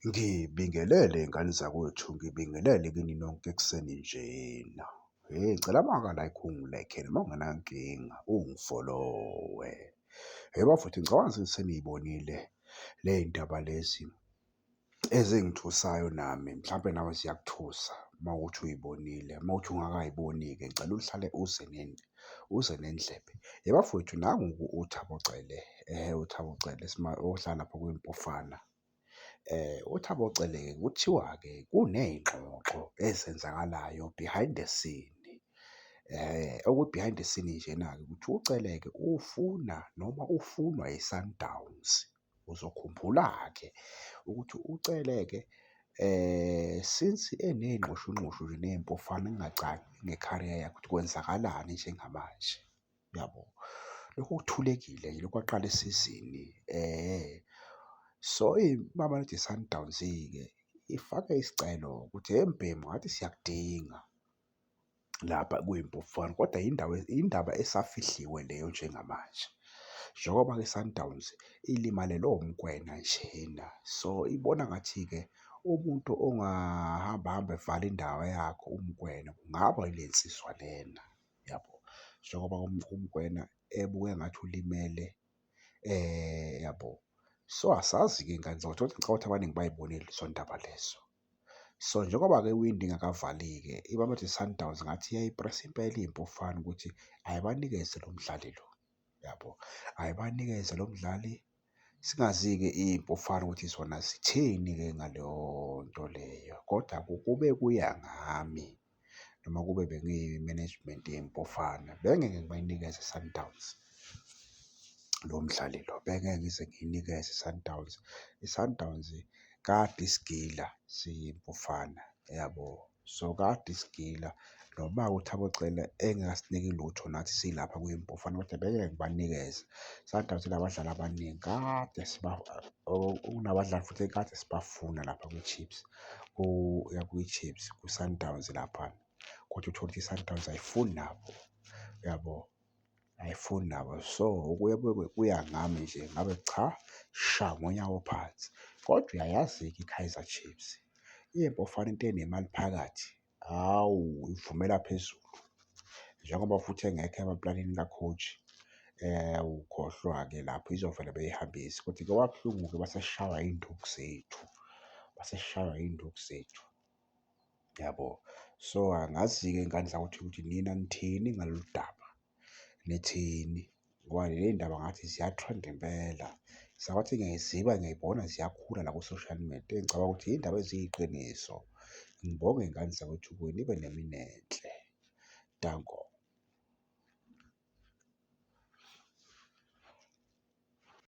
Ngibingelele ngane zakwethu, ngibingelele kini nonke ekuseni njena. Hheyi ngicela maka like ungilekhe noma ungenankinga ungifolowe. Hheyi bafowethu ngicabanga ukuthi seniy'bonile ley'ndaba lezi ezingithusayo nami mhlampe nawe ziyakuthusa uma kuwukuthi uy'bonile. Uma kuwukuthi ungakay'boni-ke ngicela uhlale uze uze nendlebe. Yhe bafowethu nangu-ke uThabo Cele, uThabo Cele ohlala lapho kwiMpofana. UThabo Cele-ke kuthiwa-ke kuney'ngxoxo ezenzakalayo behind the scene. Okwi-behind the scene njena-ke ukuthi uCele-ke ufuna noma ufunwa yiSundowns. Uzokhumbula-ke ukuthi uCele-ke since eney'nxushunxushu nje ney'mpofana kungacaci nge-career yakhe ukuthi kwenzakalani njengamanje, uyabo? Lokhu kuthulekile nje lokhu kwaqala isizini so iMamelodi Sundowns-ke ifake isicelo ukuthi, hhe mbhemu ngathi siyakudinga. lapha kuyiMpofana kodwa yindawo indaba esafihliwe leyo njengamanje. Njengoba-ke iSundowns ilimalelwe uMokwena njena, so ibona ngathi-ke umuntu ongahamba hamba evala indawo yakhe uMokwena kungaba ile nsizwa lena, yabo. Njengoba uMokwena ebukeka ngathi ulimele, yabo. So asazi-ke ngani ngicabanga ukuthi abaningi bayibonile lezo ndaba lezo. So njengoba-ke iwindi ingakavali-ke iMamelodi Sundowns ngathi iyayipresa impela impi ufana ukuthi ayibanikeze lo mdlali lo, yabo. Ayibanikeze lo mdlali singazi-ke impi ufana ukuthi zona zithini-ke ngaleyo nto leyo, kodwa kube kuya ngami noma kube bengiyi-management yeMpofana bengeke ngibayinikeze iSundowns lo mdlali lo, bengeke ngize ngiyinikeze iSundowns. ISundowns kade isigila siyiMpofana yabo, so kade isigila noma uThabo Cele engasiniki lutho nathi silapha kwiMpofana kodwa bengeke ngibanikeze. ISundowns inabadlali abaningi kade siba, kunabadlali futhi ekade sibafuna lapha kwiChiefs. uya kwiChiefs kwiSundowns lapha kodwa uthole ukuthi iSundowns ayifuni nabo uyabo ayifuni nabo so kuye kube kuya ngami nje ngabe cha sha ngonyawo phansi kodwa uyayazi-ke iKaizer Chiefs iyeBafana into enemali phakathi Hawu, ivumela phezulu njengoba futhi engekho emaplanini ka-coach um ukhohlwa-ke lapho izovele beyihambise kodwa kwabuhlungu-ke baseshawa iy'nduku zethu, baseshawa iy'nduku zethu, yabo. So, angazi-ke ngani ukuthi ukuthi nina nithini ngalolu daba. nithini ngoba ley'ndaba ngathi ziyathrendi impela sakwathi ngiyayiziba ngiyayibona ziyakhula la ku-social media engicabanga ukuthi iy'ndaba eziyiqiniso. Ngibonge ngani zakwethu kuye nibe nemini enhle. Danko.